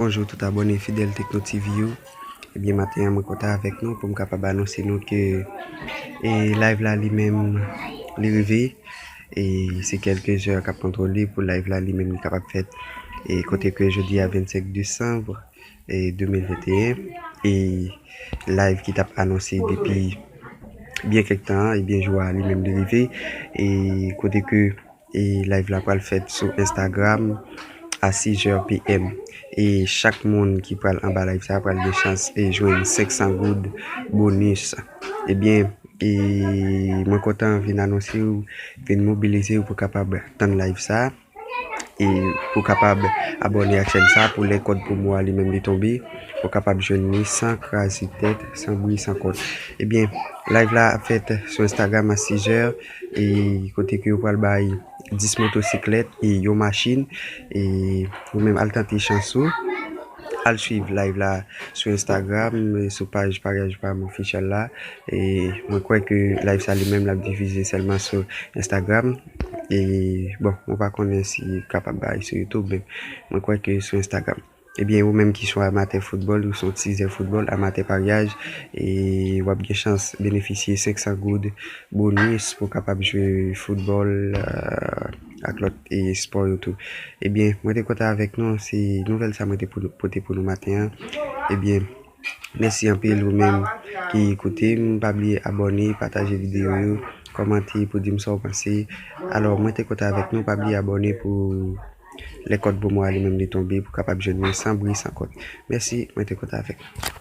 Bonjou tout abòne fidèl Tekno TV yo, ebyen maten an mwen kontan avèk nou poum kapab anonse nou ke e live la li menm li rive e se kelke zè kap kontwole pou live la li menm li kapab fèt e kote ke jodi a 25 Desanm e 2021 e live ki tap anonse depi byen kèk tan an ebyen jou a li menm li rive e kote ke E live la pral fèt sou Instagram a 6 heures PM. E chak moun ki pral anba live sa pral gen chans e jwenn 500 goud bonus. Ebyen e mwen kontan vin anonsew vin mobilizew pou kapab tann live sa e pou kapab abòne ak chèn sa pou lè kòd promo a li menm li tonbe ou kapab jwenn li san kraze tèt san bri san kont. Ebyen live la ap fèt sou Instagram a 6 heures. e kote ke yo pral bay 10 motosiklèt e yon machin e ou menm al tante chans ou al swiv live la sou instagram sou paj paryaj pam official la e mwen kwè ke live sa li menm lap difize sèlman sou instagram e bon mwen pa konnen si kapab bay sou youtube men mwen kwè ke sou instagram. Ebyen ou menm ki son amatè foutbòl, ou son tizè foutbòl, amatè paryaj, w ap gen chans benefisye 500 goud bonis pou w kapab jwe foutbòl ak lòt espò yo tou. Ebyen mwen te kontan avèk nou, se nouvèl sa mwen te pote pou nou maten an. Ebyen. Mèsi anpil ou menm ki koute m pa bliye abòne pataje video yo kòmante pou dim sa ou panse alò mwen te kontan avèk nou pa bliye abòne pou lè kòd bon mwa a li menm li tonbe pou kapab jwenn mwen san bri san kont mèsi mwen te kontan avèk nou.